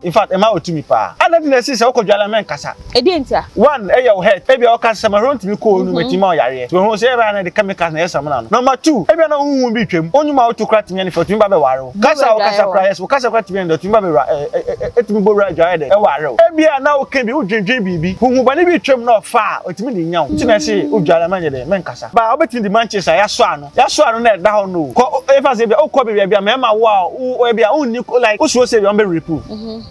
in fact ɛma wɔ tumi paa ana di na ɛsi sɛ wokɔ dwala mɛnkasa ɛdeɛ ntia one ɛyɛ wo het ebia woka sɛ mahwerɛ ntumi kɔɔ no mɛtumi ma ɔyareɛ so ho sɛ ɛbɛa na de chemicals na ɛyɛ samina no number two ebia na wohu bi twam onyuma a woto kora tumi ɛne fɛ ɔtumi ba bɛware wo kasa a wokasa kora yɛs wokasa kora tumi ɛne ɔtumi ba bɛwura ɛtumi bɔ wura adwaeɛ dɛ ɛware wo ebia na woka bi wodwendwen biribi huhu bɔne bi twam na ɔfa a ɔtumi de nya wo nti na ɛse wodwala mɛnyɛ dɛ mɛnkasa baa wobɛtumi de mankyes a yɛasɔ ano Yɛasoa no na ɛda hɔ no o. Kɔ o yɛmfa no sɛ ebia wokɔ baabi a ebia mmarima wo a wo wo ebia wonni like wosuro sɛ ebia wɔbɛ rape wo.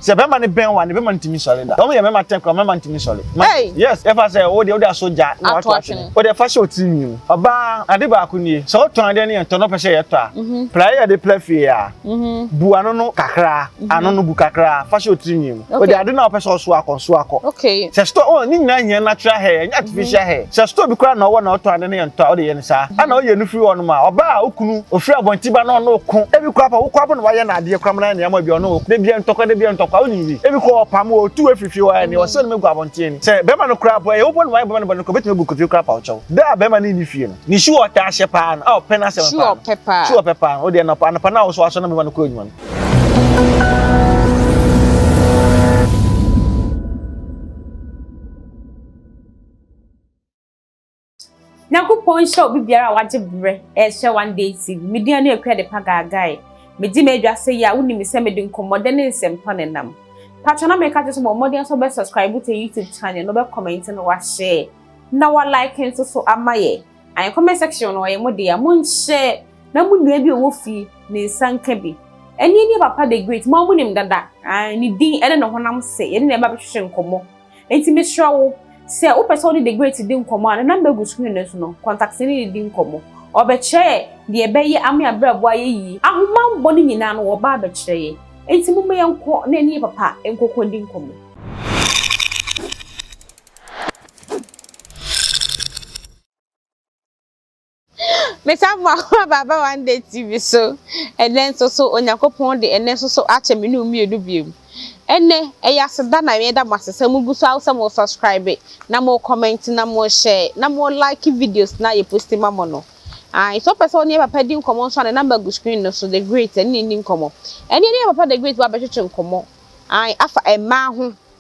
Sɛ barima no bɛn wo a ne bɛma no ntumi nsɔre da. Wɔn yɛ mmarima atɛn koraa wɔn mmarima ntumi nsɔre. Ma yes yɛmfa sɛ wo deɛ wode asɔ gya na wato atwene. Wo deɛ fa hyɛ wo tiri nwi mu. Ɔbaa ade baako nie sɛ wotɔn adeɛ no yɛntɔ na wopɛ sɛ yɛtɔ a pira yɛ de pira fie a. Mm-hmm. bu ano no kakraa mm-hmm. ano no bu kakraa fa hyɛ otiri nwi mu ɔde ade na ɔpɛ sɛ ɔso akɔ nso akɔ sɛ store ɔn oh, ne nyinaa hia natural hair ɛnyɛ artificial mm-hmm. hair sɛ store bi koraa na ɔwɔ na ɔtɔn ade ne yɛ ntɔ a ɔde yɛ ne saa ɛna ɔyɛ no firi hɔnom a ɔbaa a okunu ofiri abɔnti ba na ɔno oko ebi kɔ apa wokɔ apa na wayɛ na adeɛ kora mu na nneɛma bi ɔno oko debia ntɔkwa debia ntɔkwa ɔne bi ebi kɔ ɔpam ɔtu efifi hɔ ɛne ɔsɛ no megu abɔnten ni sɛ bɛrima no koraa bɔ ɛyɛ wobɔ no wayɛ bɛrima no bɔ no kɔ betumi egu kofi koraa pa ɔkyɛw dɛ a bɛrima no nni fie no Ne su a ɔtaa hyɛ paa no, a ɔpɛ n'asɛm paa no. Su a ɔpɛ paa no, wodeɛ nɔpa anɔpa no a wosɔ asɔ na mema no kɔ adwuma no. Nyankopɔn nhyɛ obi biara a wagye berɛ ɛrehyɛ one day tv me din ne akua de pa gaagae megye m'adwa sɛ yi a wonim sɛ mede nkɔmmɔdɛ ne nsɛmpa ne nam patwa na meka kyerɛ sɛ bɔ mmɔden sɛ wobɛ subscribe to youtube channel na wobɛ comment na wahyɛ Na wa like nso so ama yɛ. Ae comment section no ɔyɛ mo dea mo nhyɛ na mo nua bi a ɔwɔ fie ne nsa nka bi. Ɛneɛ nie papa the great mo a mo nim dada ae ne din ɛne ne honam sɛ yɛne no ɛba bɛhwehwɛ nkɔmɔ nti mesrɛ wo sɛ wo pɛ sɛ wo ne the great di nkɔmɔ a ne number gu screen no so no contact ne ne di nkɔmɔ ɔbɛ kyerɛ yɛ deɛ ɛbɛ yɛ ama yɛ abrabɔ ayɛ yie ahomanbɔ no nyinaa no ɔbaa bɛ kyerɛ yɛ nti momma yɛnkɔ na ɛne yɛ papa nkɔkɔ ndi nkɔmɔ. Mesan mu ahoa baaba one day TV so. Ɛnɛ nso so Onyankopɔn de ɛnɛ nso so akyɛ me ne wo mmienu bio. Ɛnɛ ɛyɛ aseda na meda mo ase sɛ mo gu so sɛ mo subscribe na mo comment na mo share na mo like videos na yɛ post ma mo no. Ah, nso pɛ sɛ ɔne papa di nkɔmɔ nso a ne number gu screen no so the great ɛne ne ni nkɔmɔ. Ɛne ne papa the great ba bɛtwetwe nkɔmɔ. Ah, afa ɛmaa ho.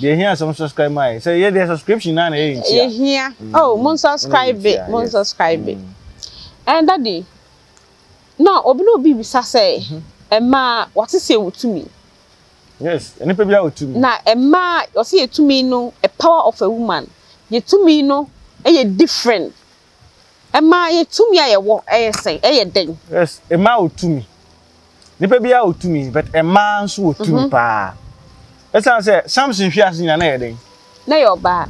Deɛ ehia sɛ mo subscribe maa yɛ. Sɛ yɛ deɛ subscription naa na yɛ yɛ ntia. Ehia. Oh, mo subscribe be, mo subscribe be. Ɛn daddy, na obi na obi bisa sɛ, ɛmaa wɔte sɛ wɔ tumi. Yes, nipa bi a wɔ tumi. Na ɛmaa wɔte yɛ tumi no, a power of a woman. Yɛ tumi no ɛyɛ different. Ɛma yɛ tumi a yɛwɔ ɛyɛ sɛn, ɛyɛ dɛn? Yes, ɛma wɔ tumi. Nipa biara wɔ tumi, but ɛmaa nso wɔ tumi mhm. paa. Ɛsan sɛ Samson hwi ase nyina na yɛ dɛn? Na yɛ ɔbaa.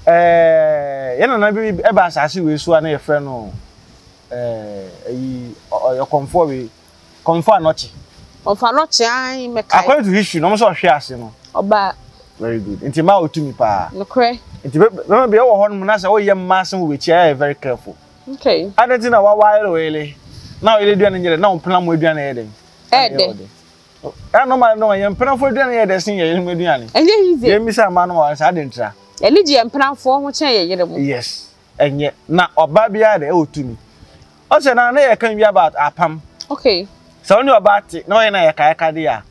Ɛɛ yɛn nana bi ɛba asase wei so a na yɛfrɛ no ɛɛ ɛyi ɔyɔkɔnfoɔ wei. Kɔmfɔ anɔkye. Kɔmfɔ anɔkye ae mɛkae. According to history na ɔmo sɛ ɔhwe ase no. Ɔba. Very good nti mmaa wɔ tumi paa. Nokorɛ. Nti bɛma bi ɛwɔ hɔ nom na sɛ woyɛ mmaa asɛm wɔ bɛkyi a yɛ yɛ very careful. Okay. Adɛn nti na wa wire wele na wele aduane nyɛ dɛ na wo mpena mo aduane ɛyɛ dɛn. Ɛyɛ dɛ. Ɛyɛ normal no yɛ mpena fo aduane yɛ dɛ sen yɛ yere mo aduane. Ɛnyɛ easy. Yɛ mmisa mmaa nom a saa de ntira. Yɛni gye yɛ mpena fo ho kyɛn yɛ yere mo. Yes. ɛnyɛ. Na ɔbaa biara na ɛwɔ tumi. Ɔsɛ na na yɛka nwi about apam. Okay. Sɛ ɔne ɔbaa te na ɔyɛ na yɛka yɛka de a,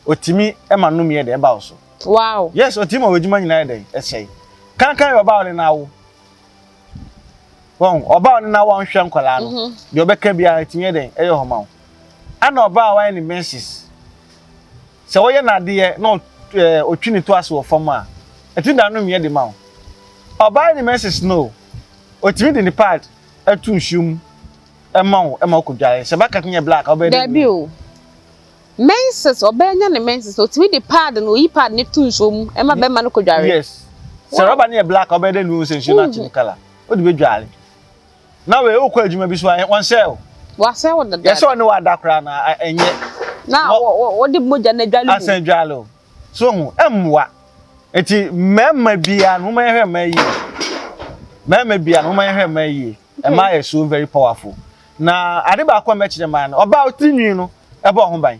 ɔtumi ma nnomeɛ de ɛba wo so. Wow. Yes, ɔtumi ma w'adwuma nyinaa yɛ dɛn ɛsɛe. Kankan yɛ ɔbaa ɔne no awo. Wɔn ɔbaa ɔne no awo a ɔnhwɛ nkwadaa no. Mhm. Deɛ ɔbɛka biara ɛtumi yɛ dɛn ɛyɛ hɔ ma wo. Ɛna ɔbaa a wayɛ ne menses. Sɛ ɔyɛ n'adeɛ na ɔtwi ne to ase wɔ fam a, ɛtumi da no meɛ de ma wo. Ɔbaa ne menses no o, ɔtumi de ne pad to nsuo mu ma wo ma wokɔdwae. Sɛ baka tumi yɛ black a, wobɛyɛ dɛ green. Dabi o. Menses, ɔbaa nya ne menses no, ɔtumi de pad no, ɔyi pad no to nsuo mu ma bɛma no kɔdware. Yes. Sɛ rɔba no yɛ black a, wobɛyɛ dɛ nnuo sɛ nsuo no akye ne colour. Wode bɛdware. na wei wokɔ adwuma bi so a wɔnsɛe wo wɔasɛe wo dada yɛsɛ ɔne wada koraa na ɛnyɛ na wɔde mogya no adwale mu asan adwale wo so ho ɛmmoa nti mmarima biara no moma yɛhwɛ mmaa yie mmarima biara no moma yɛhwɛ mmaa yie ɛma yɛ so very powerful na ade baako a mɛkyerɛ maa no ɔbaa ɔtiri nwi no ɛbɔ ho ban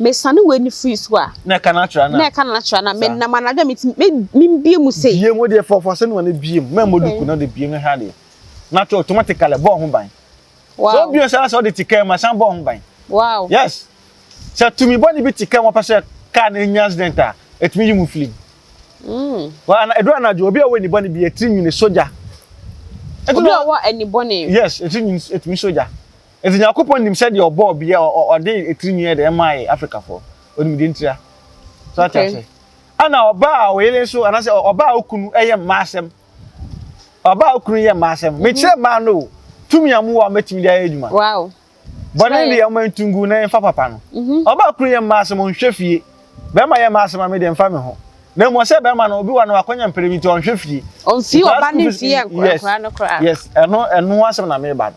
Mesane w'ani firi so a. Na ɛka no atra no a. Na ɛka no atra no a. Menam anadwo a metumi me membie mu sei. Biem wodeɛ fa fa sɛnua no biem ma mmɔ duku na wode biem na hwɛ adeɛ na to automatically bɔɔ ho ban. Wow. Sɛ wobiem sɛ na sɛ wode te kaa mu asan bɔɔ ho ban. Wow. Yes. Sɛ tumi bɔ ne bi te kaa mu pɛ sɛ kaa no nya accident a ɛtumi yi mu film. Mm. Wa ana ɛduru anadwo obi a ɔwɔ ani bɔ ne bi ɛtiri nwini sogya. Obi a ɔwɔ ani bɔ ne. Yes ɛtiri nwini ɛtumi sogya. Enti Nyankopɔn nim sɛdeɛ ɔbɔɔ bia ɔde etirinwi ɛde ɛmae Afrikafoɔ. Ɔnim deɛ ntira. So ate Okay. ase? Ɛna ɔbaa a ɔyere nso anaasɛ ɔbaa a okunu ɛyɛ mmaa asɛm. Ɔbaa a okunu yɛ mmaa asɛm. Mekyerɛ mmaa no o, tumi a mowɔ a mobɛtumi de ayɛ adwuma. Wow. Bɔne Sraɛ. deɛ ɔma ntu ngu na yɛmfa papa no. Ɔbaa a okunu yɛ mmaa asɛm ɔnhwɛ fie. Bɛrima yɛ mmaa asɛm a medeɛ ɛmfa meho. Na mmom ɔsɛ bɛrima no obi wɔ hɔ a na wakwanya mpere bi nti ɔnhwɛ fie. Ɔmfii Nkwadaa ɔba school no fees, mfie yes, nkwadaa no koraa. yes, ɛno ɛno ho asɛm na mereba no.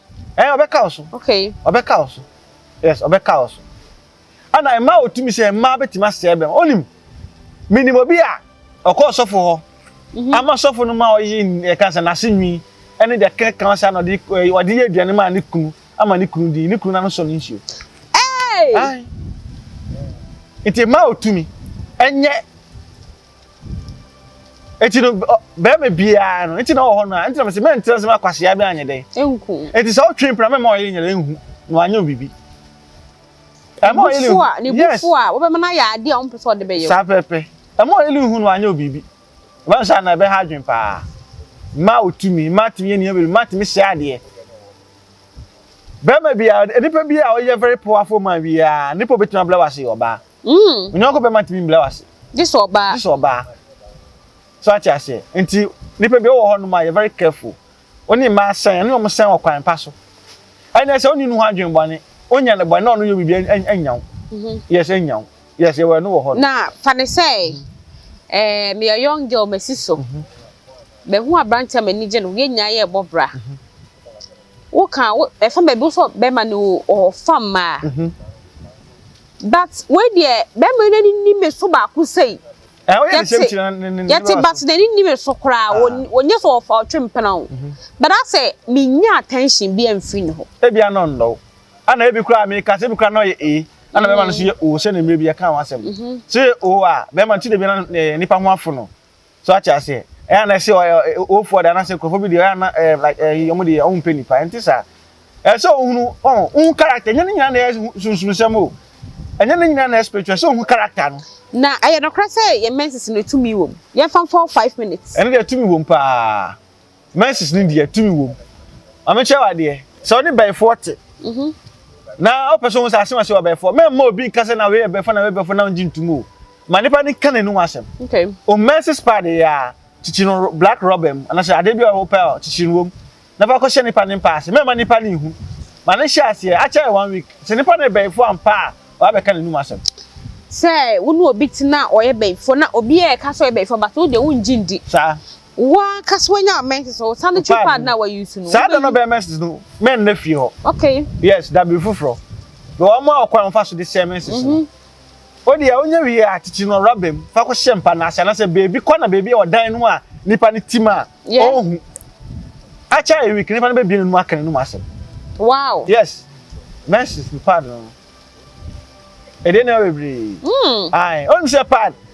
ɛn eh, ɔbɛka wo so okay ɔbɛka wo so yes ɔbɛka wo so ɛna mmaa a wɔtumi sɛ mmaa bɛtumi asɛe bɛm ɔnim menim obi a ɔkɔ ɔsɔfo hɔ mhm. ama sɔfo no ma ɔye ɛka sɛ n'ase nwi ɛne deɛ kɛka ɔsɛ ana ɔde ɔde yɛ aduane ma ne kunu ama ne kunu di ne kunu n'ano sɔ ne nsuo nti mmaa a wɔtumi ɛnyɛ Eti no bɛrima biara no eti na ɔwɔ hɔ no a eti na mesi mɛ ntena sɛm akwasia bi anyɛ dɛn. Enku. Eti sɛ ɔtwe mpena mɛma ɔyɛ nyere nhu na wanyɛ obibi. Ɛma ɔyɛ nhu. Ne bufu a wɔbɛma no ayɛ adeɛ a ɔmpɛ sɛ ɔde bɛyɛ. Saa pɛpɛ. Ɛma ɔyɛ nhu na wanyɛ obibi. Ɛbɛn saa na ɛbɛha adwen paa. Mmaa otumi mmaa tumi yɛ nneɛma bebree mmaa tumi hyɛ adeɛ. Bɛrima biara nipa biara a ɔyɛ very powerful man biara nipa obetumi abla wase ɔbaa. Mm. Wo nyɔnko bɛma tumi mbla wase. Gye sɛ ɔbaa. Gye sɛ ɔbaa. So ate aseɛ. Nti nipa bi ɔwɔ hɔ nom a yɛ very careful. Wo ne mmaa sɛn, ɛne wɔn sɛn wɔ kwan pa so. Ɛnna sɛ ɔne ne ho adwene bɔne, ɔnya ne bɔne na ɔno yɛ biribi ɛnya wo. Mhm. Yes, ɛnya wo. Yes, yɛwɔ ɛno wɔ hɔ. Na fa ne sɛ, ɛɛ eh, meyɛ young girl masi so. Mhm. Bɛhu aberanteɛ a m'ani gye no, yɛn nyinaa yɛ ɛbɔ bra. Mhm. woka wo ɛfa baabi wo sɛ bɛrima no wo ɔfa mmaa mhm. but wei deɛ bɛrima yi n'ani ni me so baako sei yɛte but n'ani ni me so koraa wɔnyɛ ah. sɛ ɔfa ɔtwe mpena o mhm. but asɛ menya attention bi amfiri ne hɔ ebi ano nnɔ ana ebi koraa meka sɛ ebi koraa na ɔyɛ ee ana bɛrima no so yɛ o sɛ ne mmerɛ bi yɛka ho asɛm mhm. sɛ yɛ o a bɛrima no ti de bi na nipa ho afo no So wate aseɛ? Ɛyɛ a na ɛsɛ ɔyɛ owufoɔ de anaasɛ nkurɔfoɔ bi deɛ ɔyɛ a na ɛɛ like ɛyi wɔn deɛ wɔn mpɛ nipa ɛnte saa ɛyɛ sɛ ohunu ɔn ohun character ɛnyɛ ne nyinaa na ɛyɛ sunsunsɛm o ɛnyɛ ne nyinaa na ɛyɛ spiritual sɛ ohun character no. Na ɛyɛ nokorɛ sɛ yɛn menses no tumi wɔ mu? Yɛmfa mfa hɔ five minutes. Ɛno deɛ tumi wɔ mu paa. menses no deɛ tumi wom maame kyerɛ wa deɛ sɛ ɔne bɛyifoɔ te mhm. na ɔpɛ so wɔn sɛ asɛm asɛ wa bɛyifoɔ mɛ mma obi nka sɛ na wei yɛ bɛyifoɔ na wei bɛyifoɔ na ɔngye ntum o ma nipa ne ka n'anum asɛm o menses paa de yɛ a kyikyi no black rubber mu anasɛ adeɛ bi a ɔwɔ pɛ a kyikyi no wom na fa kɔhyɛ nipa ne mpa ase mɛ ma nipa ne ihu ma ne hyɛ aseɛ akyɛ yɛ one week sɛ nipa ne bɛyifoɔ ampa a wabɛka n'anum asɛm sɛ wo ne obi te na ɔyɛ bɛyifoɔ na obi yɛ ɛka sɛ ɔyɛ bɛyifoɔ but wo deɛ wongye ndi saa Wo ankasa wanya menses no, wosan de twi pad na wa use no. Saa da no bɛyɛ menses no, mɛn na fie hɔ. Okay. Yes, da bere foforɔ. Na wɔn mu a ɔkwan wɔn fa so de hyɛ menses no. Mhm. O deɛ onye wie a titiri no rɔba mu fa kɔ hyɛ mpa no ase anaasɛ beebi kɔ na beebi a ɔdan no a nipa no tim a ɔnhu. Akyɛ a ewik nipa no bɛbie n'anum aka n'anum asɛm. Wow. Yes, menses no pad no. Ɛdeɛ nneɛma bebree. Mm. Ae, ɔnim sɛ pad.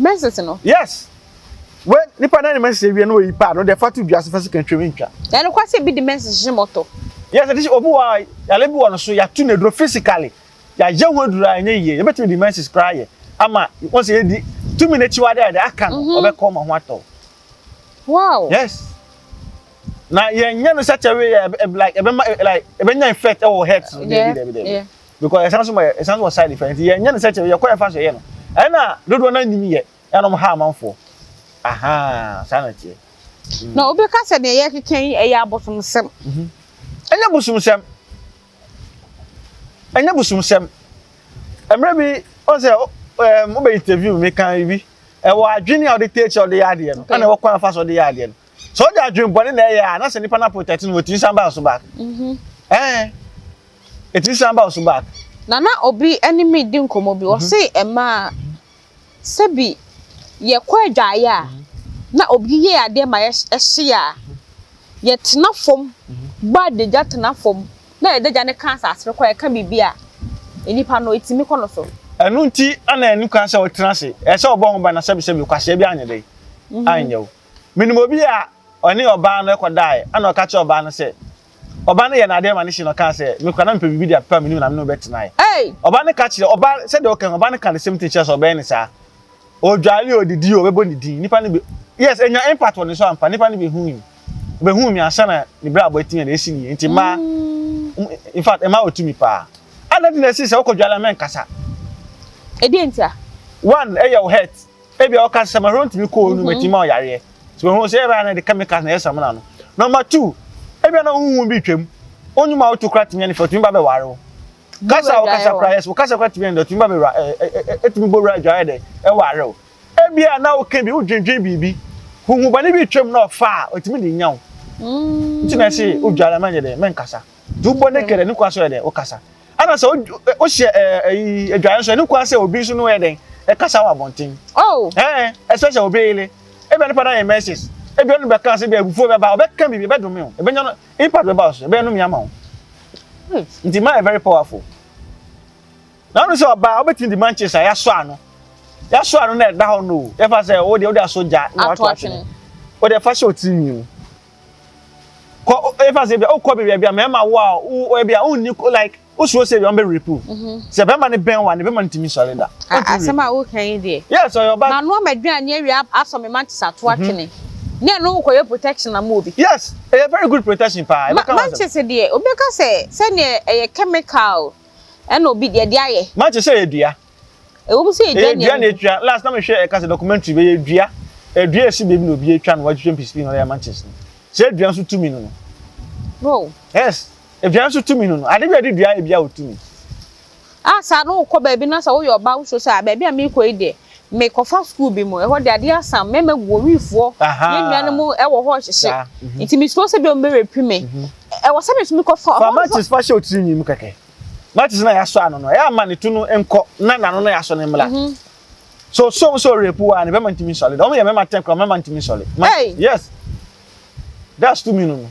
Mɛsese no. Yes. Wɛ nipa na ne mɛsese wie na oyi paa no deɛ fa to dua so fa sika twam ntwa. Ɛyɛ nokware sɛ ebi de mɛsese hyɛ mɔtɔ. Yes, ɛde hyɛ obi wɔ a yale bi wɔ no so yɛato no aduro physically yɛayɛ ho aduro a ɛnyɛ yie yɛbɛtumi de mɛsese koraa yɛ ama wɔn sɛ yɛdi tumi n'akyiwade a yɛde aka no ɔbɛkɔ ɔma ho atɔ. Wow. Yes. Na yɛnyɛ no sɛ kyɛwe yɛ like ɛbɛma like ɛbɛnya effect wɔ health no dɛbi dɛbi dɛbi. Because ɛsan so ma yɛ ɛsan so wɔ side effect nti yɛn nyɛ no sɛ kyɛ yɛ kɔ yɛ fa so yɛ no ɛna dodoɔ naa nim yɛ ɛna wɔn ha amanfoɔ ahaa saa na teɛ. Mm. Na obi ka sɛ deɛ yɛ keka yi ɛyɛ abosomsɛm. Mhm. Ɛnyɛ mm. bosomsɛm. Ɛnyɛ bosomsɛm. Ɛmɛ bi ɔsɛ ɛɛ mo bɛ interview mi kan bi ɛwɔ adwene a ɔde tɛ kyɛ ɔde yɛ adeɛ no ɛna ɛwɔ kwan afa so ɔde yɛ adeɛ no. Sɛ ɔde adwembɔne na ɛyɛ a, na sɛ nipa no aprotɛte no, wɔtumi san ba wo so back. Ɛɛ, ɛtumi san ba wo so back. Na na obi ne me redi nkɔmmɔ bi, ɔse mmaa, sɛ bi yɛkɔ adwaeɛ a, na obi yɛ adeɛ ma yɛhye a, yɛtena fam bɔ adagya tena fam na adagya no ka asase no kɔ a, ɛka biribi a, nipa no, ɛtumi kɔ no so. Ɛno nti na ɛnni kwan sɛ wotena ase, ɛsɛ sɛ wobɔ ho ban na sɛbesɛbe kwasea biara anyɛ dɛn? Anyɛ wo. Minim obi a ɔne ɔbaa no kɔdae, ɛnna ɔka kyerɛɛ ɔbaa no sɛ ɔbaa no yɛɛ no ade ma no hye na ɔkaa sɛ, 'Me koraa na mepɛ biribi de apepa me ne wo na me ne wo bɛtenae. Ɔbaa no ka kyerɛɛ ɔbaa sɛdeɛ ɔka yi, ɔbaa no kaa the same thing kyerɛɛ sɛ ɔbɛyɛ no saa. Ɔdware o, ɔdidi o, ɔbɛbɔ ne din. Nnipa no bɛ, yes, ɛnya impact wɔ ne so ampa. Nnipa no bɛhui. Ɔbɛhuu me ansa na ne brabɔ atumi yɛ na ɛsi ne yie. Nti mmaa, in fact, mmaa wɔ tumi paa. Adɛn nti na ɛsii sɛ wokɔdware a mɛnkasa? Ɛdeɛn ntia? One, ɛyɛ wo hurt. ebi a ɔka sɛ mahoro ntumi kɔ onu mɛtumi ma ɔyareɛ so ɛho sɛ ɛbɛa na ɛde chemicals na ɛyɛ samina no number two ebi a na wohu bi twam onyuma wotu kora tumi ne fɛ tumi ba bɛware wo kasa wokasa kora yɛs wokasa kora tumi ne tumi ba bɛwura ɛtumi bɔ wura adwaeɛ dɛ ɛware wo ebi a na woka bi wodwendwen biribi huhu bɔne bi twam na ɔfa a ɔtumi de nya wo nti na ɛse wodware mɛnyɛ dɛ mɛnkasa Dubɔ ne kɛdɛ ne kwan so yɛ dɛ wokasa. Ɛna sɛ wohyɛ ɛyi adwaeɛ nso ne kwan sɛ obi nso no yɛ dɛn ɛkasa wɔ abɔnten. Oh. Ɛɛ ɛsɛ sɛ obi yele. Ebi a nipa na yɛ mɛsis. Ebi ɔno bɛka ase bi a ebufuo bɛba ɔbɛka biribi ɛbɛdome o. Ebɛnya no impact bɛba so ɛbɛyɛ no mi ama o. Hmm. Nti ma yɛ very powerful. Na ɔno sɛ ɔbaa ɔbɛtumi di manches a yɛasɔ ano. Yɛasɔ ano na ɛda hɔ no o. Yɛfa sɛ o deɛ o de aso gya na wato atwene. O deɛ fa hyɛ o tirinwi mu. kɔ efa sɛ bia wokɔ baabi a bia mmarima wo a wo bia wonni like wosuro sɛ bia wɔbɛ rape wo mhm. sɛ bɛrima no bɛn wa ne bɛrima no tumi sɔre da asɛm a woka yi deɛ yes ɔyɛ ɔba na noa madwina ne awia asɔ me ma nte sɛ ato mhm. atwene ne ɛno wokɔyɛ protection ama obi yes ɛyɛ very good protection paa ɛbɛka ma nkyɛ sɛ deɛ wobɛka sɛ sɛdeɛ ɛyɛ chemical ɛna obi deɛ de ayɛ ma nkyɛ sɛ ɛyɛ dua Ɛwɔ mu sɛ edua nneɛma. Edua na etwa. Last na mehwɛ ɛka sɛ documentary bɛyɛ edua. Edua esi baabi na obi atwa no watwitwa mpisipii na ɔde ama nkyes no. Sɛ edua nso tumi no no. Wow. Yes. Edua nso tumi no no. Ade bi a yɛde dua ebi a otumi. Ah, saa no wokɔ baabi na sɛ woyɛ ɔbaa wosuo sɛ a baabi a meekɔ yi deɛ mekɔfa sukuu bi mu ɛhɔ de adeɛ asam mmarima gu wɔ wifoɔ yɛn nuanom mu ɛwɔ hɔ hyehye nti mesuro sɛ bi ɔmbɛrɛpi me ɛwɔ sɛ me nso mekɔfa fa matches fa hyɛ otiri nwi mu kɛkɛ matches na yasɔ ano no ɛyɛ ama ne tu no nkɔ na n'ano na yasɔ ne mmla mhm. so so so rape wa ne bɛma ntumi nsɔle dɔm yɛ mɛma ten kura mɛma ntumi nsɔle yes that's to me no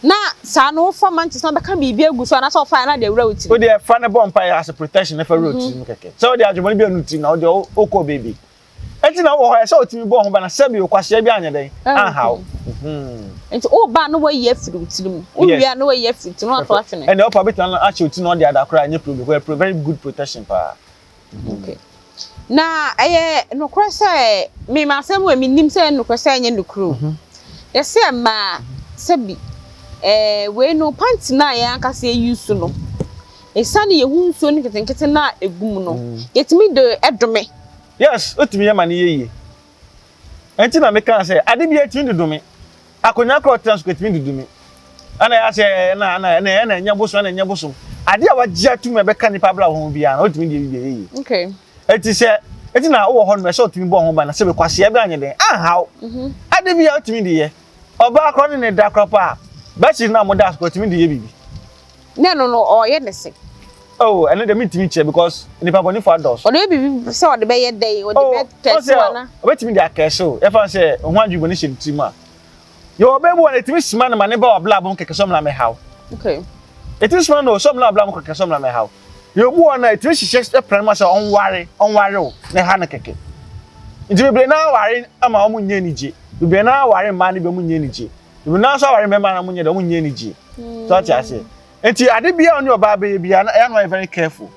na saa no wofa mantis na bɛka biribi agu so anaasɛ ɔfa na de awura wo tiri wodeɛ fa ne bɔ mpa yɛ ase protection ne fa wura wo tiri mu kɛkɛ sɛ wode adwemɔne bi anu tiri na wode wokɔ baabi Nti na wowɔ hɔ ɛsɛ otumi bɔ ho ba na sɛbi okwasea bi anyɛ dɛn anhaw. Mhm. Nti woba na wayi afiri wo tiri mu. Wowie a na wayi afiri tiri mu ato atwene. Ɛnna ɔpa bi tena ahyɛ wo ti na ɔde ada koraa ɛnyɛ problem because ɛyɛ very good protection paa. Okay. Na ɛyɛ nokorɛ sɛ mema asɛm wɔ menim sɛ ɛyɛ nokorɛ sɛ ɛnyɛ nokorɛ o. Mhm. Yɛsɛ ɛmaa sɛbi ɛɛ wei no panty no a yɛn ankasa yɛ use no. Esiane yɛn ho nsuo no nketenkete no a egu mu no, yɛtumi de dome. Yes, otumi yɛ ma no yɛ yie. Ɛnti na me kaa sɛ ade biara etumi de dome. Akonnwa koro ɔtra so etumi de dome. Ɛna yɛ asɛ ɛna ɛna ɛna ɛna ɛnyɛ bosom ɛna ɛnyɛ bosom. Ade a wagye atum ɛbɛka nipa abira ho biara no otumi de ebi biara yɛ yie. Okay. Ɛti sɛ ɛti na ɔwɔ hɔ no ɛsɛ otumi bɔ ho ban na sɛ bɛ kwaseɛ bɛ anyɛ dɛn anhaw. Mhm. Ade biara otumi de yɛ. Ɔbaa koro ne ne da koro paa. Bɛsi na mo da koro otumi de yɛ bibi. Na ɛno no, ɔreyɛ ne se. Oh, ɛno deɛ mentumi nkyerɛ because nipa bɔnefo adɔɔso. Ɔde bɛ biribi sɛ ɔde bɛyɛ dɛn? Ɔde oh, bɛ kɛse wa na. Ɔbɛtumi de akɛse o. Yɛfa sɛ ho adwuma ne hyɛ ne tirim a. Yɛ ɔbɛ bi wɔ na ɛtumi sima no ma ne ba wɔ blabom kɛkɛ sɛ ɔmena mɛhaw. Okay. Ɛtumi sima no sɛ ɔmena blabom kɛkɛ sɛ ɔmena mɛhaw. Yɛ obi wɔ na ɛtumi hyehyɛ pran mu sɛ ɔnware, ɔnware o, ne ha no kɛkɛ. Nti bebree na aware ama ɔmo nyɛ anigye. Bebree na aware mmaa no bi ɔmo nyɛ anigye. Ebi nanso aware mmarima na wɔnyɛ dɛ, wɔnyɛ anigye. So ate ase. Eti ade biara a ɔne ɔbaa bɛyɛ biara na ɛyɛ no ayɛ very careful.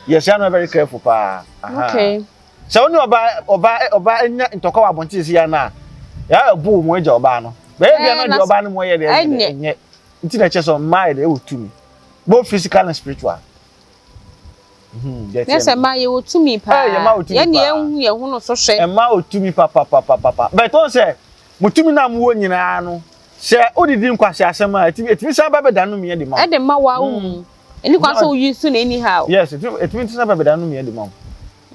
Yes, ɛyɛ no ayɛ very careful paa. Aha. Okay. Sɛ ɔne ɔbaa ɔbaa ɔbaa nya ntɔkwa wɔ abɔnten sisi ya no a, ɛyɛ ɛbo wɔn agya ɔbaa no. Bɛyɛ biara na deɛ ɔbaa no mu ɔyɛ deɛ ɛnyɛ. Nti na ɛkyɛ sɛ mmaa yɛ deɛ ɛwɔ tumi. Both physical and spiritual. Nyɛ sɛ mmaa yɛwɔ tumi paa. Yɛn deɛ yɛnhu yɛn ho no so hwɛ. Mmaa wɔ tumi papapapapa. Bɛtɛ wɔn sɛ mo tumi na mo wɔ nyinaa no sɛ wodidi nkwasi asɛm a etumi etumi san ba bɛda no miɛ de ma wo. Ɛde ma wa wo mu. Mm. Ɛni kwan sɛ woyi so na anyhow. Yes etumi etumi san ba bɛda no miɛ de ma wo.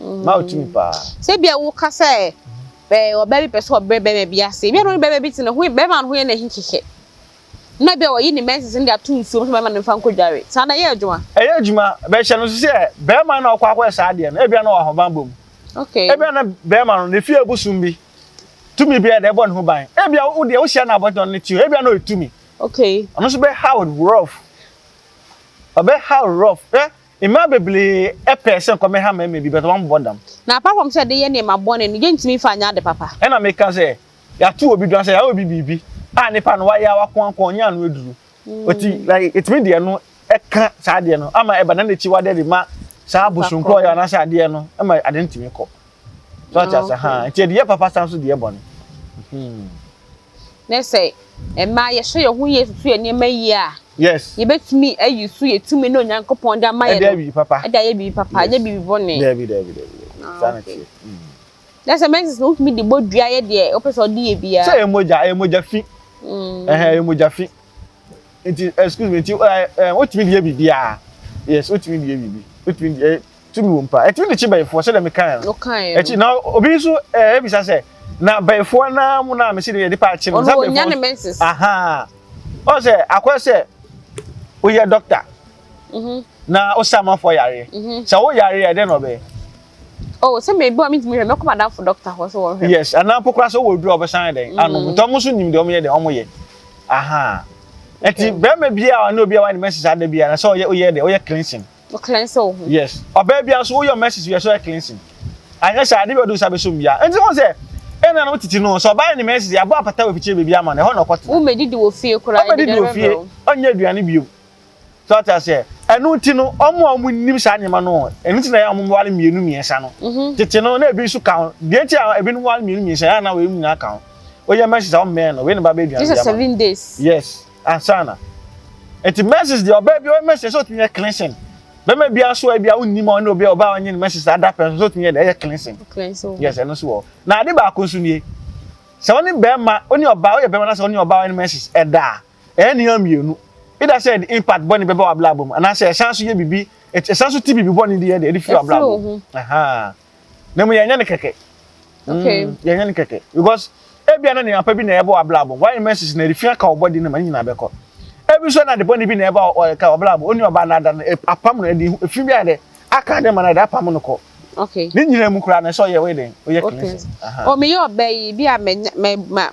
Mmaa wɔ tumi paa. Sɛ bia wo ka sɛ ɛɛ ɔbaa bi pɛ sɛ ɔbrɛ bɛrima bi ase. Ebi a na ɔne bɛrima bi te ne ho bɛrima no ho yɛ na ɛhe kɛkɛ. na ebia ɔyi ne menses no de ato nsuom sɛ mɛma no mfa nkɔdware. Saa no ɛyɛ adwuma? Ɛyɛ adwuma, but hyɛ no nso sɛ barima no na ɔkɔ akɔyɛ saa adeɛ no, ebia na ɔwɔ ahobammɔ mu. Okay. Ebia na barima no, ne fie bosom bi, tumi bi a ɛde bɔ ne ho ban. Ebia wo deɛ wohyia no abɔntene no te o, ebia na ɔyɛ tumi. Okay. Ɔno nso bɛhaw rough. Ɔbɛhaw rough. Hwɛ, mmaa bebree pɛ sɛ nkɔmɛha mmarima bi, but wɔn bɔ dam. Na apart from sɛ ɛde yɛ nneɛma bɔne no, yɛntumi mfa nyɛ ade papa. Ɛna meka sɛ, Yɛato obi dwan sɛ yɛayɛ obi biribi a nipa no wayɛ a wakoankoa a ɔnyaa ano aduru. Ɔti mm. like yɛtumi deɛ no ɛka saa adeɛ no ama ɛba na n'akyi wadeɛ de ma saa bosonkɔ ɔyɛ anaasɛ adeɛ no ɛma adeɛ no tumi kɔ. So ate ase ha nti yɛde yɛ papa san so deɛ bɔne. Hmm. Ne sɛ mmaa yɛhyɛ yɛn ho yie susu yɛn nneɛma yie a. Yes. Yɛbɛtumi ayi so yɛ tumi na Onyankopɔn de ama yɛn no. Ɛde ayɛ biribi papa. Ɛde ayɛ biribi papa ɛnyɛ biribi bɔne. Daabi daabi daabi. Ah, saa na tie. Hmm. Kyerɛ sɛ menses no wotumi de bɔ dua yɛ deɛ wopɛ sɛ ɔde yɛ biara. Sɛ ɛyɛ mogya ɛyɛ mogya fi. Mm. Ɛhɛn ɛyɛ mogya fi. Nti excuse me nti ɛɛ wotumi de yɛ biribiara. Yes wotumi de yɛ biribi wotumi de ɛyɛ tumi wɔ mu paa ɛtumi de kye bɛyifoɔ sɛdeɛ mi kan no. Ɔkan no. Ɛkyi na obi nso ɛɛ ebisa sɛ na bɛyifoɔ naa mu naa mi si de yɛ de paa kye no. Ɔno onya ne menses. Ahaa ɔn sɛ akɔyɛ sɛ oyɛ doctor. Mhm. Na osa amanfoɔ yareɛ. Mhm. Sɛ wo yareɛ ɛdɛ na ɔbɛyɛ. Oh, sɛ mɛ ebi a mi tumi hwɛ, mɛ kɔ madamfo dɔkta hɔ sɛ wɔn hwɛ. Yes, ana mpo koraa sɛ wɔwɔ aduru a wɔbɛsan ayɛ dɛn ano, nti wɔn nso nim deɛ wɔn yɛ deɛ wɔn yɛ. Aha. Nti bɛrima bi a ɔne obi a wɔayɛ ne mɛsis ada bi a, na sɛ ɔyɛ ɔyɛ deɛ ɔyɛ cleansing. O cleansing wo ho. Yes, ɔbaa bi nso ɔyɛ mɛsis bi a sɛ ɔyɛ cleansing. Anyɛ sɛ ade bi a ɔde nsa bɛsɔ mu bia. Nti wɔn sɛ ɛna na wɔtete no sɛ ɔbaa yɛ ne mɛsis yɛ abɔ apata wɔ afikyire baabi ama no ɛhɔ na ɔkɔtena. Wo mɛ didi wɔ fie koraa. Ɔmɛ didi wɔ fie, ɔnyɛ aduane bio. So ate aseɛ? Ɛno nti no, wɔn a wɔnim saa nneɛma no, ɛno nti na ɛyɛ a wɔware mmienu mmiɛnsa no. Mhm. Tete no, na ebi nso ka ho. Deɛ nti a ebinom ware mmienu mmiɛnsa, ɛyɛ a na wɔyɛ nyinaa ka ho. Woyɛ menses a, wɔmmɛn no. Wei na babɛyɛ aduane de ama. Just seven days. Yes, ansa na. Nti menses deɛ ɔbaa bi ɔyɛ menses sɛ ɔtumi yɛ cleansing. Bɛma bi aso a bi a wonni ma ɔne obi a ɔbaa ɔnye ne menses ada pɛ nso ɔtumi yɛ deɛ ɛyɛ cleansing. Cleansing. Yes, ɛno nso wɔ. Na ade baako nso nie. Sɛ ɔne bɛrima, ɔne ɔbaa, ɔyɛ bɛrima na sɛ ɔne ɔbaa ɔyɛ ne menses ɛda a, Ɛyɛ nneɛma mmienu. Either sɛ ɛde impact bɔne bɛba w'abrabɔ mu anaasɛ ɛsan nso yɛ biribi, ɛsan nso ti biribi bɔne de yɛ de ɛde firi w'abrabɔ mu. Na mu yɛnyɛ no kɛkɛ. Okay. Mm, yɛnyɛ no kɛkɛ because ebia na nneɛma pa bi na ɛbɔ w'abrabɔ. Why message na ɛrefi aka ɔbɔde no ma ne nyinaa bɛkɔ. Ebi nso na de bɔne bi na ɛba ɔka ɔbrabɔ. Onua ɔbaa na ada no apam no ɛde efi bi ayɛ dɛ. aka dɛ ma no da apam no kɔ okay ne nyina mu kura na ɛsɛ ɔyɛ wei dɛn ɔyɛ cleansing aha o meyɛ ɔbɛ yi bi a menya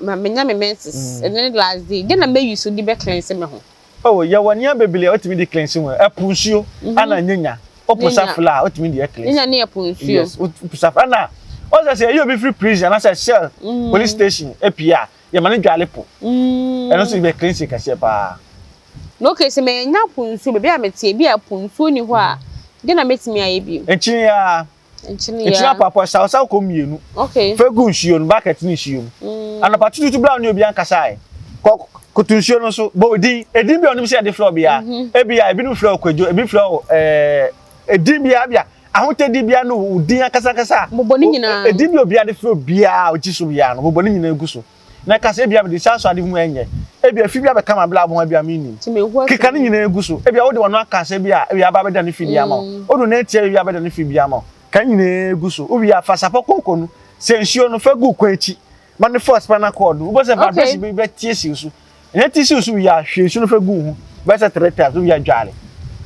ma menya me menses mm. ɛno ne last day dɛ na mɛyi so de bɛ cleanse me ho oh yɛwɔ nneɛma bebree a wotumi de cleanse ho ɛpo nsuo mhm. ana nyanya wopo safla a wotumi de cleanse nyanya ne ɛpo nsuo yes wopo safla ana ɔsɛ sɛ ɛyɛ obi firi prison anaasɛ cell mm. police station apia yɛma no dwale po mm. ɛno nso yɛbɛ cleanse kɛseɛ paa na okay sɛ mɛnya po nsuo baabi a mete ebi a po nsuo ni hɔ a deɛ na mɛtumi ayɛ bi nkyene ya nkyene ya nkyene apapo sawosawo kɔ mmienu okay fɛ gu nsuo no bucket ne nsuo mu mm. anapa tututu bla ne obi ankasa yɛ kɔ koto nsuo no so bɔ edin edin bi a ɔnim sɛ yɛde flɔ bia mhm. ebi a ebinom flɔ kwadwo ebi flɔ ɛɛ. Eh, Edin biara bia ahotadi biara no wo din ankasa ankasa a. Bobɔ ne nyinaa. Edin bi obiara de frɛ obiara a ogye so biara no bobɔ ne nyinaa gu so. Na ka sɛ ebia mede saa so ade ho ɛnyɛ. Ebia fi bi abɛka ma bla bla bia mennim. Keka ne nyinaa gu so. Ebia wode wano aka sɛ bi a ebia aba abɛda ne fidie ama wo. Wodo ne atia ebia abɛda ne fidie ama wo. Ka ne nyinaa gu so. Wowie a fa sapɔ konko no sɛ nsuo no fa gu kwan akyi ma no force spinal cord no. Wobɛhu sɛ vibration bi bɛtie si wo so. Ɛna ti siw so wie a, hwie nsu no fa gu wo ho bɛyɛ sɛ three times wowie a dware.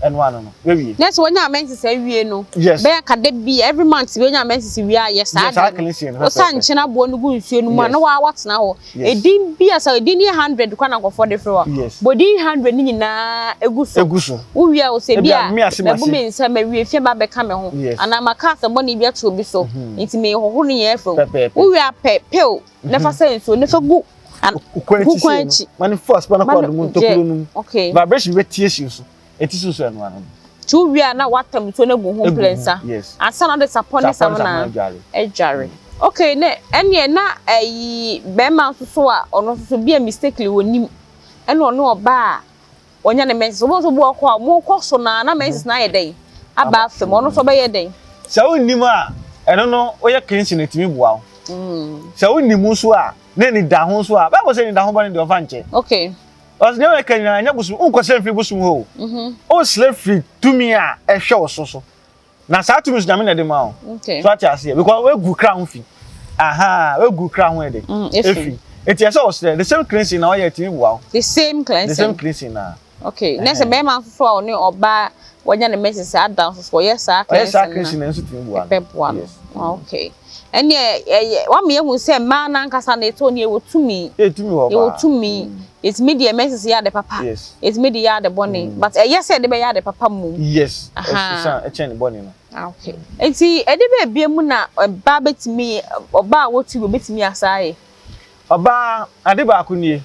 Ɛno ano no, woawie. Na sɛ wonya menses awie no, bɛyɛ ka da bi a, every month bi wonya menses wie a, yɛ saa Yɛ saa adeɛ cleansing no no. Wosa pɛpɛɛpɛ. nkyene aboɔ no gu nsuo no mu a, na Yes. waa woatena hɔ. Yes. Edin bi a sɛ edin no yɛ hundred koraa na nkurɔfoɔ de frɛ wo a, Yes. bɔ din hundred no nyinaa gu so. Egu so. Wowie a, wo sɛ Ebi bi a a, me ase, mabu m'ase. me nsa, mawie fi a, ba bɛka me ho. Yes. Anaa maka asɛmmɔne bi ato obi so, nti mehohoro ne nyinaa afiri mu. Pɛpɛɛpɛ. Wowie a, pɛ pill na fa sɛ nsuo na fa gu ho kwan akyi ma ne fo aspa no kɔ adomu ntokuro no mu vibration bɛtie hye so ɛti so nso ɛnoa no nti wowie a na woatam nsuo no agu ho mprɛnsa ansa na wode sapɔ ne samina adware okay ne ɛneɛ na ayi bɛrima nso so a ɔno nso so bi a mistakenly wɔnim ɛna ɔne ɔbaa Wɔanya ne menses. Wobɛhu sɛ obi wɔ hɔ koraa a, wɔkɔ so no ara na menses no ayɛ dɛn? Aba afam. Ɔno nso ɔbɛyɛ dɛn? Sɛ wonnim a, ɛno no woyɛ cleansing no ɛtumi boa wo. Sɛ wonim nso a, na anidaho nso a, Bible sɛ anidaho ba no deɛ ɔmfa nkyɛ. Okay. Ɔsɛ nea wɔka nyinaa ɛnyɛ bosom, wonkɔsrɛ mfiri bosom hɔ o. Wosrɛ firi tumi a ɛhwɛ wo so so. na saa tumi nso nyame na ɛde ma o so ate aseɛ because wegu kra ho fi aha wegu kra ho ɛde mm, efi eti ɛsɛ ɔsrɛ the same cleansing na ɔyɛ ɛtumi bu awo the same cleansing the same cleansing na okay na sɛ bɛrima nso so a ɔne ɔbaa wɔnya ne mɛsɛsɛ adan nso so ɔyɛ saa cleansing na ɔyɛ saa cleansing na nso tumi bu awo ɛbɛ bu awo okay. ɛnneɛ ɛyɛ wama yɛhu sɛ mmaa no ankasa na ɛtɔ nneɛ wɔ tumi ɛtumi hɔ yɛwɔ tumi ɛtumi deɛ mɛsi sɛ yɛ ade papa ɛtumi de yɛ ade bɔne but ɛyɛ sɛ ɛde bɛyɛ ade papa mu yes ɛkyɛn ne bɔne no okay nti ɛde bɛ ebie mu na ɔbaa bɛtumi ɔbaa a wɔtu bɛbɛtumi asaa yɛ ɔbaa ade baako nie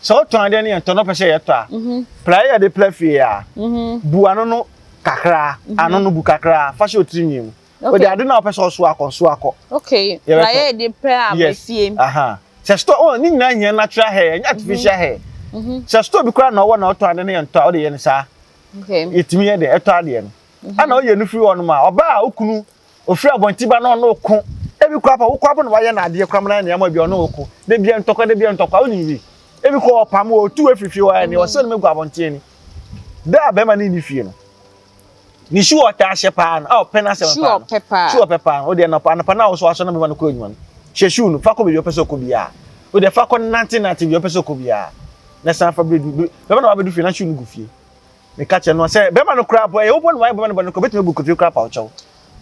sɛ ɔtɔn adeɛ no yɛntɔ no pɛ sɛ yɛtɔ a pla yɛ de pla fie a bu ano no kakra ano no bu kakra fa hyɛ ɔtiri nwii mu Okay. Ode ade na wopɛ sɛ ɔso akɔ so akɔ. Okay. Na yɛ de pɛ a befie. Aha. Sɛ store oh ni nyina hia natural hair, nya artificial hair. Mhm. Sɛ store bi kura na ɔwɔ na ɔtɔ ade na yɛ ntɔ a ode yɛ ne saa. Okay. Yetimi yɛ de ɛtɔ ade no. Ana ɔyɛ no firi hɔ no ma ɔba a okunu ofiri abɔnti ba na ɔno ko. Ebi kura pa wokɔ abo na wayɛ na adeɛ kura mana ne ama bi ɔno ko. De bia ntɔkwa de bia ntɔkwa onim wi. Ebi kɔ ɔpam wɔ otu efifie hɔ ne ɔsɛ no megu abɔnten ni. Da bɛma ne ni fie no. ne su ɔtaa ahyɛ paa no a ɔpɛ n'asɛm paa no ɔpɛ paa su ɔpɛ paa no ɔde anapa anapa no a wɔsɔ asɔ na bɛma no kɔ adwuma no hyɛ su no fa kɔ baabi ɔpɛ sɛ ɔkɔ biara ɔde fa kɔ nante nante bi ɔpɛ sɛ ɔkɔ biara na san fa bɛdu bɛma na wabɛdu fie na su no gu fie meka kyerɛ no sɛ bɛma no koraa po ɛyɛ wopɔ no wayɛ bɛma no bɔ no kɔ bɛtumi agu kotiri koraa pa ɔkyɛw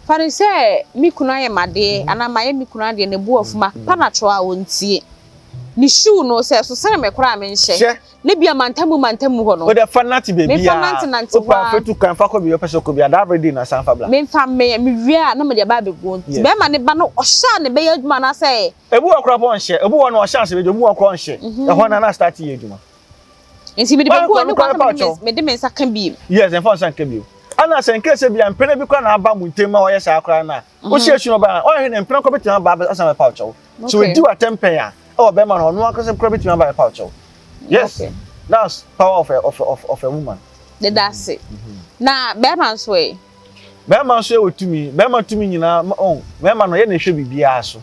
Fa no sɛ me kunu ayɛ m'adeɛ anaa mayɛ me kunu adeɛ na ɛbu afu ma pa no atwerɛ a ɔntie. Ne shoe no sɛ ɛso sɛn me koraa a menhyɛ. Hyɛ. Na ebia mantamu mantamu hɔ no. Wo deɛ fa nante baabi a. Memfa nante nante hɔ a. Wopɛ a fa tu kwan fa kɔ baabi a wopɛ sɛ wokɔ biara da bere din na san fa bra. Memfa mmɛyɛ me wie a na mede aba abɛguo nti. Yes. Bɛrima no ba no ɔhyɛ a na ɛbɛyɛ adwuma anaasɛ. Ebi wɔ hɔ koraa a ɔpɛ ɔnhyɛ. Ebi wɔ hɔ no ɔhyɛ a sɛ ɛbɛdwo. Ebi wɔ hɔ koraa a ɔnhyɛ. Ɛhɔ no ara na start yɛ adwuma. nti mede bɛgu ɔne kwan sɛ mede me nsa ka bio. yes mfa nsa nka bio ɛna sɛ nkɛ sɛ bia mpena bi kora na aba mu ntɛm ma wɔyɛ saa koraa no a mhm. wohyɛ su no baa ɔhwɛ ne mpena kora bɛtumi aba asan bɛpa wo kyɛw so ɛdi watɛm pɛn a ɛwɔ bɛma no ɔno ankasa kora bɛtumi aba bɛpa wo kyɛw yes that's power of a, of a, of, of a woman deda ase mhm. na bɛrima nso ɛ bɛrima nso ɛwɔ tumi bɛrima tumi nyinaa bɛrima no yɛ na ɛhwɛ biribiara so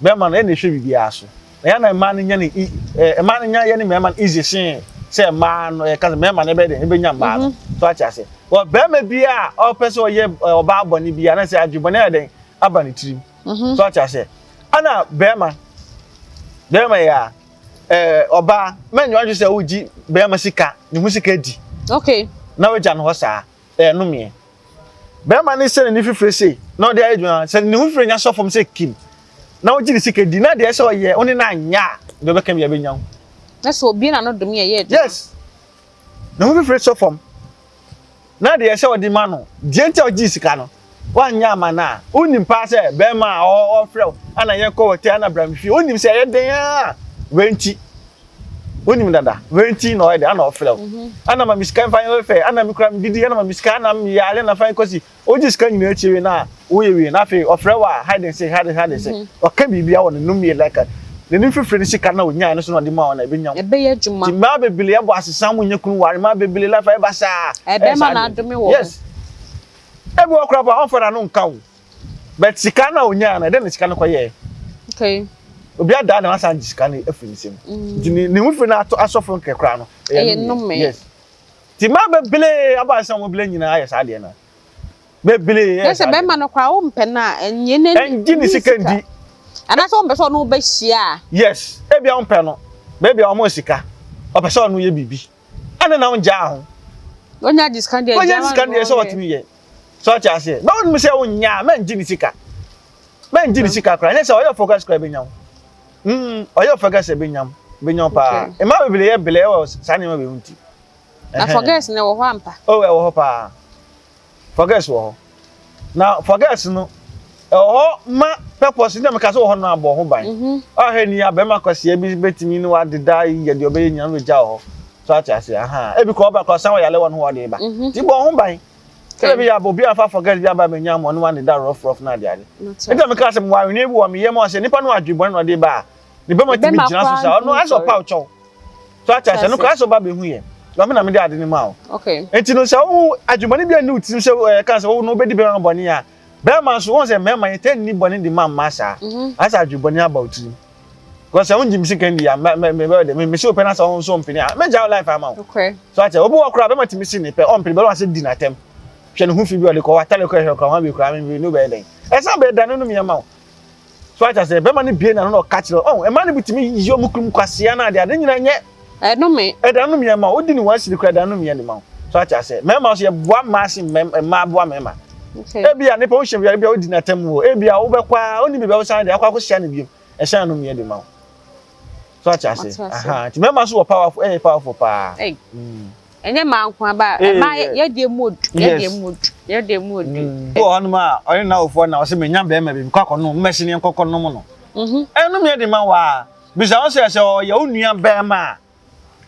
Bɛrima no, yɛ na ɛhwɛ biribiara so. Na yɛ na mmaa no nya no e eh, mmaa no nya yɛ ne mmarima no easy sen sɛ mmaa no yɛka sɛ mmarima no ɛbɛyɛ dɛ ɛbɛnya mmaa no. So ate ase. Wɔ bɛrima bi a ɔpɛ sɛ ɔyɛ eh, ɔbaa bɔne bi a na sɛ adwe bɔne ayɛ dɛn aba ne tirim. So ate ase. Ɛna bɛrima, bɛrima yɛ a eh, ɔbaa mɛnyɛ wadwe sɛ wogye bɛrima sika, ne ho sika di. Okay. Na wagya no hɔ saa. ɛyɛ nomeɛ bɛrima ne sɛ n'ani fifire sei na ɔde ayɛ adwuma sɛ ne ho fifire nya sɔ fam sɛ kim na wogye ne sika di na deɛ sɛ ɔyɛ wo ne no anyɛ a deɛ ɔbɛka bi abɛnya wo na sɛ obie na no dome ɛyɛ adwuma yes ne ho fifire sɔ fam na deɛ sɛ ɔde ma no deɛ nti a ɔgye sika no Woannyɛ amma no a, wonim paa sɛ bɛrima a ɔɔfrɛ wo ana yɛnkɔ w'atɛ ana bra me fie, wonim sɛ ɛyɛ den aa wei nti, wonim dada, wei nti na ɔyɛ den ana ɔfrɛ wo, mhm. ana ma me sika mfa yɛ fɛ, ana me kura me didi, ana ma me sika, ana me yare na fa yɛ kɔsi, wogye sika nyinaa akyi wei na woyɛ wei na afei ɔfrɛ wo a hide and seek, hide and seek, hide and seek, mhm. ɔka biribi a wɔ ne nom yɛ like n'anim fifiri ne sika na onyaa no so na ɔde ma wɔn na ebenya mu. Ɛbɛyɛ adwuma. Ti mmaa bebree ɛbɔ asesam nyɛ kunu ware mmaa bebree lafa ɛba saa. Ɛbɛma na adome wɔ. Yes. Ebi wɔ koraa pa ɔnfa n'ano nka o. But sika no a onyaa no, ɛdɛn na sika no kɔyɛɛ? Okay. Obi adaa na wasan gye sika no afiri ne nsam. Mm. Nti ne ne ho fi no ato asɔ fam kɛkɛ koraa no. Ɛyɛ nnome. Yes. Ti maa bebree aba sɛ wɔn bile nyinaa yɛ saa deɛ no. Bebree yɛ saa. Yɛ sɛ bɛrima no koraa wɔn mpɛ no a ɛnyɛ ne ne sika. ne sika ndi. Anaasɛ wɔn pɛ sɛ ɔno bɛhyia. Yes. Ebi a wɔn pɛ no. Beebi a wɔn sika. Ɔpɛ sɛ ɔno yɛ biribi. ɛna na ɔngyaa ho. Onya gye sika deɛ onya gye sika deɛ sɛ ɔtumi yɛ sɛ ɔte aseɛ na ɔnum sɛ ɔnya a mɛngye ne sika mɛngye ne sika koraa nyɛ sɛ ɔyɛ focus koraa bɛnya ho mm ɔyɛ focus bɛnya ho bɛnya ho paa mmaa bebree yɛ belɛ wɔ saa nneɛma wei ho ti. na focus na ɛwɔ hɔ ampa. o ɛwɔ hɔ paa. Forgets wɔ hɔ. Na forgets no, ɛwɔ hɔ ma purpose na meka sɛ wɔ hɔ no abɔ ho ban. Ɔhwɛ ni a bɛrima kwasia bi bɛtumi ne wadeda yi yɛ deɛ ɔbɛyɛ nyina no gya wɔ hɔ. So ate aseɛ aha. Ebi kɔ ɔba kɔ san wɔ yale wɔ no hɔ ɔde ba. Ti bɔ ho ban. Sɛ bɛbi yɛ abɔ obi amfa forgets bi aba mɛnya mɔ ne wadeda rough rough na ade ade. Nti na meka sɛ mewɔ aweneɛ bi wɔ me yɛ mɔ sɛ nipa no adwe bɔne na ɔde ba a ne bɛma tumi gyina so saa ɔno asɛ ɔpa ɔkyɛw so ate asɛ no kora sɛ ɔba bɛhu yɛ ɔme na mede ade no ma wo nti no sɛ wohu adwumane bi anni wo tirim sɛ eh, ɛka sɛ wowo no wobɛdi bɛma bɔne a bɛrima nso wɔn sɛ mmarima yɛtɛ nni bɔne de ma mma saa mhm. asɛ adwebɔne aba wo tirim because ɛho gyim sika ndi a mɛbɛyɛ dɛ mesi wo pɛ na sɛ ɔho nso mpene a mɛgya wo life ama wo so akyɛ obi wɔ koraa bɛma tumi si ne pɛ ɔmpene bɛrima sɛ di n'atɛm hwɛ ne ho fi bi ɔde kɔ watale kɔ ɛhwɛ kora wɔn abɛkura me bi ne wobɛyɛ dɛn ɛsan bɛyɛ da no nom yɛ ma wo So ate aseɛ? Bɛrima no bie n'ano na ɔka kyerɛ ɔn oh, mmaa no bi tumi yi ɔmo kunu mu kwasea na adeɛ ade nyina nyɛ ɛnome ɛda no mmiɛ ma wodi ne wɔn asiri kora ɛda no mmiɛ ne ma so ate aseɛ mmarima nso yɛboa mmaa se mmaa boa mmarima ebi a nipa wohyɛ biara bi a wodi n'atam wɔ ebi a wobɛkɔ a ɔni biribi a wosan de akɔ akɔhyia no bio ɛhyɛn no mmiɛ de ma wo. so ate ase aha nti mɛma so wɔ powerful ɛyɛ powerful paa ɛnyɛ maa nko aba ɛma yɛdeɛ mu odu yɛdeɛ mu odu yɛdeɛ mu odu wɔ hɔnom a ɔne n'awofoɔ na ɔsɛ menya bɛrima bi mekɔ akɔnom mmɛhyɛ ne nkɔkɔ nom no ɛnom yɛ de ma wɔ a bisa wo sɛ sɛ ɔyɛ wo nua bɛrima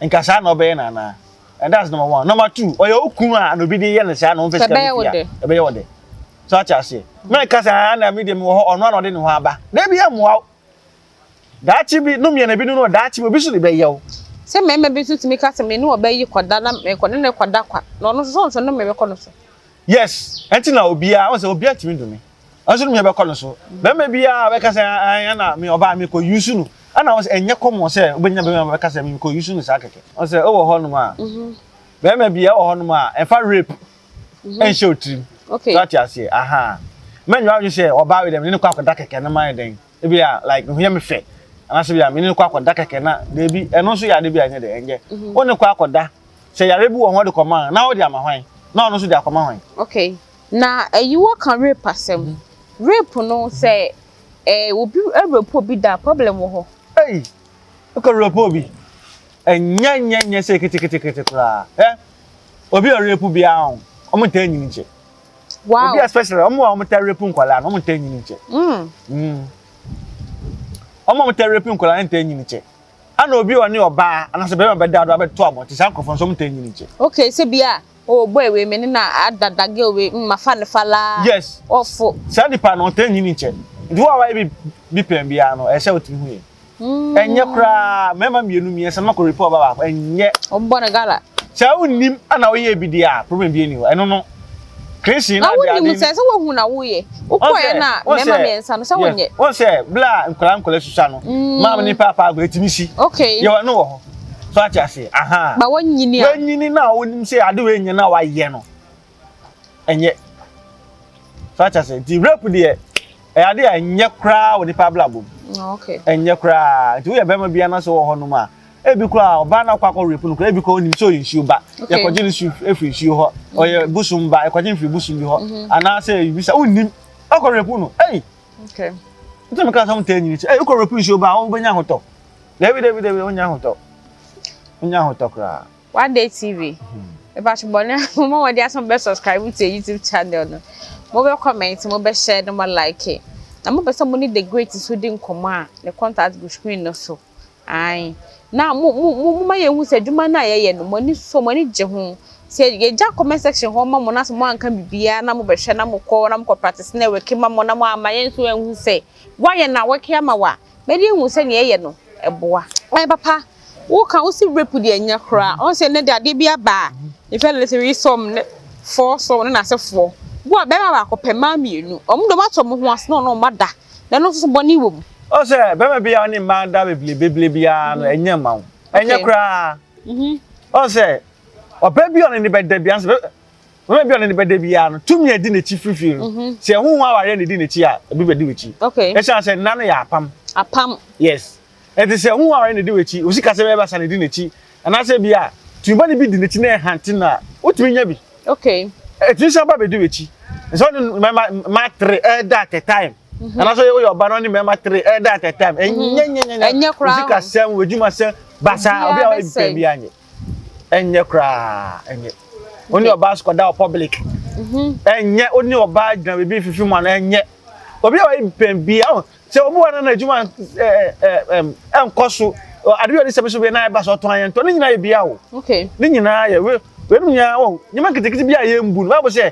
a nka saa na ɔbɛyɛ no anaa and that's number one number two ɔyɛ wo kunu a na obi de yɛ no saa na ɔmfɛ sika bi fia ɛbɛyɛ wɔ dɛ so ate aseɛ mɛka sɛ na me deɛ mewɔ hɔ ɔno a na ɔde ne ho aba na bi amoa wo Daakye bi, no mmiɛna bi no no, daakye bi obi nso de bɛyɛ wo. Sɛ mmarima bi nso tumi ka sɛ me ne ɔbaa yi kɔda na mekɔ ne ne kɔda kwa na ɔno nso sɛ ɔnso no mebɛkɔ no so. Yes, ɛnti na obiara, ɔn sɛ obiara tumi du me. Ɔnso no mebɛkɔ no so. Bɛrima biara a bɛka sɛ ɛn na me ɔbaa mekɔ yusu no, ɛna ɔn sɛ ɛnyɛ kɔmɔ sɛ wobɛnya bɛrima a bɛka sɛ mekɔ yusu no saa kɛkɛ. Ɔn sɛ ewɔ hɔ nom a, bɛrima bi ɛwɔ hɔ nom a ɛmfa rape ɛnhyɛ wo tirim. So ate aseɛ? Ahaa. Mɛnyɛ w'adwene sɛ ɔbaa wei dɛ me ne no kɔ akɔda kɛkɛ no ma ayɛ dɛn. ebia like ne ho yɛ me fɛ anaasɛ bia mene no kɔ akɔda kɛkɛ na daabi ɛno nso yɛ ade bi a ɛnyɛ dɛ ɛnyɛ mhm. wo ne kɔ akɔda sɛ yare bi wɔ hɔ de kɔma na wode ama hwan na ɔno nso de akɔma hwan okay na ayi wɔ ka rape asɛm mhm. rape no sɛ ɛɛ eh, obi rape obi da problem wɔ hɔ ɛyi wokɔ rape obi ɛnyɛ nyɛ nyɛ sɛ ketekete koraa ɛ obi a rape biara wɔn ntaa nyini kyɛ wow obi especially ɔmo a ɔmo ta rape nkwadaa na ɔmo nta nyini kyɛ mm. mm. ɔmo a ɔmo ta rape nkwadaa nta nyini kyɛ ana obi a ɔne ɔbaa anasɛ bɛrɛ ɔbɛ da do abɛto abɔnten saa nkorɔfoɔ nso ɔmo nta nyini kyɛ. okay sɛ bi a o bɔ ewe mi ne na adada ge owe mma mm, fa ne fa laa. yes ɔfo. saa nipa no ɔnta nyini kyɛ nti wo a wayɛ bi bi pɛn biara no ɛsɛ o ti hu yɛ. Ɛnyɛ koraa mmarima mmienu mmiɛnsa mako repɔ ɔba baako ɛnyɛ. Wɔn bɔ no gala. Sɛ awo nim ɛna woyɛ ebi di a problem bi ɛni hɔ ɛno no. Christian na adi adi. Awo nim sɛ sɛ wohu na woyɛ. Wokɔ yɛ na mmarima mmiɛnsa no sɛ wonyɛ. Wɔn sɛ bla nkɔla nkɔla susua no. Mm. Maame ne paapa agorɔ etimi si. Okay. Yɛ wɔn no wɔ hɔ. So ati ase aha. Ba wɔnyini a. Wɔnyini na wɔnim sɛ adi wɔnyɛ na wɔayɛ no. ɛnyɛ so ate ase nti rape deɛ ɛyɛ ade a ɛnyɛ koraa wɔ nipa abrabɔ mu ɛnyɛ koraa nti woyɛ bɛrima bi anaso wɔ hɔnom a ebi koraa ɔbaa na ɔkɔ akɔ rape no koraa ebi koraa onim sɛ ɔyɛ nsuo ba yɛkɔgye no su efiri nsuo hɔ ɔyɛ busum ba yɛkɔgye no firi busum bi hɔ mhm. anaasɛ ebi sɛ onim ɔkɔ rape no ɛyi nti mi ka sɛ ɔmo tɛ nyini sɛ ɛyɛ ɔkɔ rape nsuo ba ɔmo bɛ nya ahotɔ dɛbi dɛbi dɛbi ɔmo nya ahotɔ ɔmo nya ahotɔ koraa. W'adeɛ TV, mepakyɛ bɔ na mo ma wɔde asɛm bɛ subscribe to YouTube channel no. Mo bɛ comment, mo bɛ share, na mo like. Na mo pɛ sɛ mo ne the great nso di nkɔmɔ a, ne contact gu screen no so. Ae. Na mo mo mo mo ma yɛn hu sɛ adwuma no a yɛyɛ no mo ani so, mo ani gye ho. Sɛ yɛgya comment section hɔ ma mo na sɛ mo anka biribiara na mo bɛhwɛ na mo kɔ na mo kɔ practice network ma mo na mo amma yɛn nso anhu sɛ woayɛ na woreke ama wo a, Madi ahu sɛ nea ɛyɛ no, ɛboa. Ɛyɛ papa. Woka, wose rape deɛ ɛnyɛ koraa. Ɔn sɛ nnɛ deɛ adeɛ bi aba a, in fact let's say we saw ne four saw ne n'asefoɔ. Wo a bɛrima baako pɛ, mmaa mmienu. Wɔn deɛ wɔato wɔn ho ase na wɔne wɔn ada. Na ɛno nso so bɔne wɔ mu. Ɔn sɛ bɛrima bi a ɔne mmaa ada beblebeblee biara no, ɛnyɛ mma wo. Ɛnyɛ koraa. Ɔn sɛ ɔbaa bi a ɔne no bɛda biara, Mama bi a ɔne ne bɛda biara no tumi a ɛdi n'akyi firifiri no, mhm. sɛ ɛho ho awareɛ na ɛdi n'akyi a, ebi bɛdi w'akyi. Ɛsiane sɛ nna no yɛ apam. Apam. Yes. Ɛnti sɛ ɛho ho awareɛ na ɛdi w'akyi, osi kasa bɛyɛ basa na ɛdi n'akyi. Anaasɛ bi a, tumibɔ no bi di n'akyi na ɛhante no a, wotumi nya bi. Okay. Ɛtumi san ba bɛdi w'akyi. Sɛ ɔne mmarima ma tere ɛda at a time. Mhm. Anaasɛ woyɛ ɔba na ɔne mmarima tere ɛda at a time. Mhm. Ɛnyɛ nyɛ nyɛ nyɛ. Ɛnyɛ koraa. Osi kasɛm, w'adwuma sɛm, basa, obi a wɔyɛ bi pɛ bi anyɛ. ɛnyɛ koraa ɛnyɛ wo ne ɔbaa so kɔda wɔ public mhm. ɛnyɛ wo ne ɔbaa gyina biribi fifi mu ano ɛnyɛ obi a wɔyɛ pɛn bi awo sɛ obi wɔ nana adwuma ɛɛ ɛɛ ɛnkɔ so ade bi a ɔde sɛbi so bi na ɛba so ɔtɔn ayɛ ntɔ ne nyinaa yɛ bi awo ne nyinaa yɛ wɛ wɛ mu nyinaa wɔ nyɛma nketenkete bi a yɛ mbu no baabu sɛ.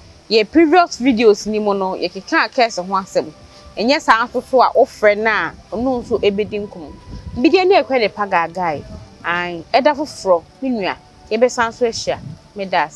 Yɛ previous videos no mu no yɛkekaa curse ho asɛm, ɛnyɛ saa nso so a wofrɛ no a ɔno nso bɛdi nkɔmmɔ. Bigye ne Akua ne Pagaagae, ae, ɛda foforɔ me nua yɛbɛsan so ahyia. Meda ase.